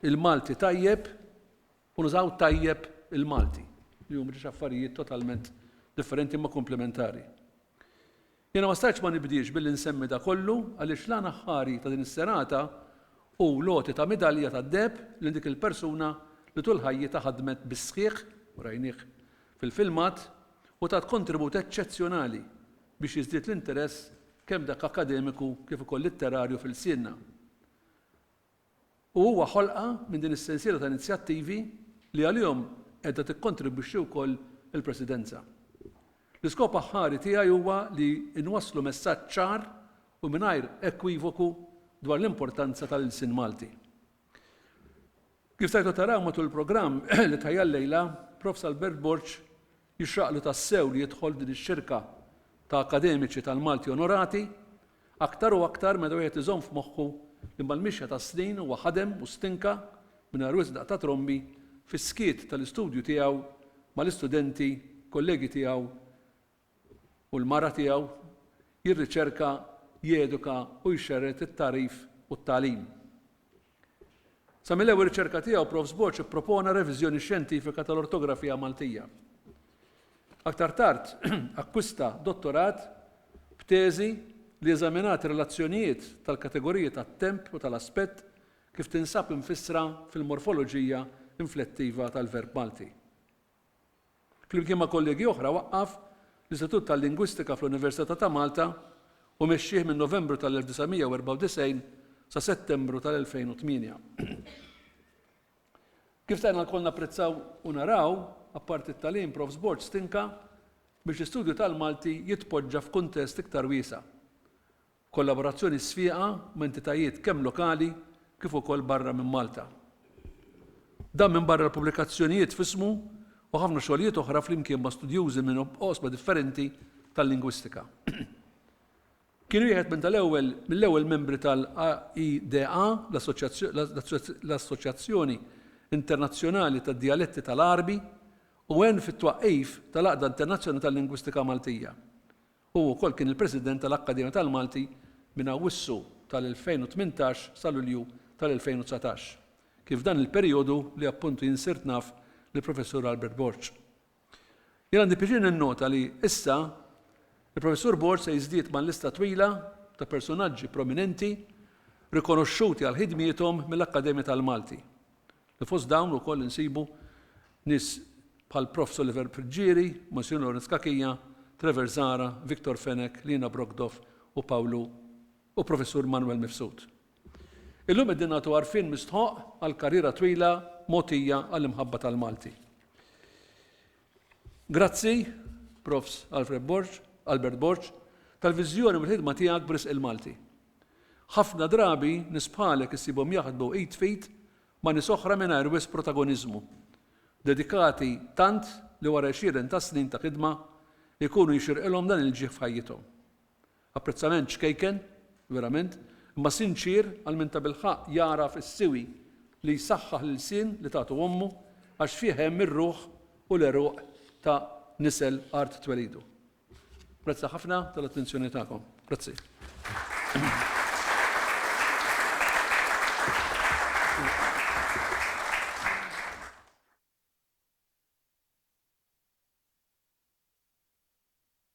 il-Malti tajjeb u nużaw tajjeb il-Malti, li huma ġiex affarijiet totalment differenti imma komplementari. Jiena ma stajtx ma nibdiex billi nsemmi da kollu għaliex l-għan aħħari ta' din is-serata hu l-għoti ta' midalja tad-deheb lil dik il-persuna li tul ħajjitha ħadmet bis-sħiħ, u rajnieh fil-filmat, u tat kontribut eċċezzjonali biex jiżdied l-interess kemm dak akkademiku kif ukoll litterarju f'ilsienna. U huwa ħolqa minn din is-sensiela ta' inizjattivi li għalihom qiegħda tikkontribwixxi wkoll il-Presidenza. L-iskop aħħari tiegħi huwa li nwasslu messaġġ ċar u mingħajr ekwivoku dwar l-importanza tal-ilsien Malti. Kif stajtu taraw matul il-programm li tħajjar llejla, Profs. Albert Borg Jixraqlu tassew li jidħol f'din ix-xirka ta' akkademiċi tal-Malti onorati, aktar u aktar meta wieħed iżomm f'moħħu li mal-mixja tas-snin huwa ħadem u stinka, mingħajr wisq daqq ta' trombi, fis-skiet tal-istudju tiegħu mal-istudenti kollegi tiegħu u l-mara tiegħu, jirriċerka, jeduka u jxerred it-tagħrif u t-tagħlim. Sa mill-ewwel riċerka tiegħu Prof. Sboċ ippropona reviżjoni xjentifika tal-ortografija Maltija. Aktar tard akkwista dottorat b'teżi li eżaminat ir-relazzjonijiet tal-kategoriji tat-temp u tal-aspett kif tinsab imfissra fil-morfoloġija inflettiva tal-verb Malti. Flimkien ma' kollegi oħra waqqaf l-Istitut tal-Lingwistika fl-Università ta' Malta u mexxieh minn Novembru tal-1994 sa Settembru tal-2008. Kif stajna lkoll napprezzaw u naraw, apparti t-tagħlim, Profs Borg stinka biex l-istudju tal-Malti jitpoġġa f'kuntest iktar wiesa'. Kollaborazzjoni sfieqa ma' entitajiet kemm lokali kif ukoll barra minn Malta. Dan minbarra l-pubblikazzjonijiet f'ismu u ħafna xogħlijiet oħra flimkien ma' studjużi minn oqsma differenti tal-lingwistika. Kien wieħed minn tal-ewwel mill-ewwel membri tal-AIDA, l-Assoċjazzjoni Internazzjonali tad-Djaletti tal-Għarbi, u għen fit-twaqqif tal-Għaqda Internazzjonali tal-Lingwistika Maltija. Hu wkoll kien il-President tal-Akkademja tal-Malti minn Awwissu tal-2018 sa Lulju tal-2019, kien f'dan il-perijodu li appuntu jien sirt naf lill-Professur Albert Borg. Jien għandi pjaċir ninnota li, issa, il-Professur Borg se jiżdied mal-lista twila ta' persunaġġi prominenti rikonoxxuti għal ħidmiethom mill-Akkademja tal-Malti. li fost dawn ukoll insibu nies bħal Prof. Soliver Friggieri, Monsinjur Lawrence Cachia, Trevor Zahra, Victor Fenech, Lina Brockdorff u Pawlu u Professur Manwel Mifsud. Illum qegħdin nagħtu għarfien mistħoqq għall-karriera twila mogħtija għall-imħabba tal-Malti. Grazzi, Profs. Alfred Borg, Albert Borg, tal-viżjoni u mill-ħidma tiegħek b'risq il-Malti. Ħafna drabi nies bħalek issibhom jaħdmu id f'id ma' nies oħra mingħajr wisq protagoniżmu, dedikati tant li wara għexieren ta' snin ta' ħidma jkunu jixirqilhom dan il-ġieħ f'ħajjithom. Apprezzament ċkejken, verament, imma sinċier għal min tabilħaqq jagħraf is-siwi li jsaħħaħ l-ilsien li tagħtu ommu għax fih hemm ir-ruħ u l-għeruq ta' nisel art twelidu. Grazzi ħafna tal-attenzjoni tagħkom. Grazzi.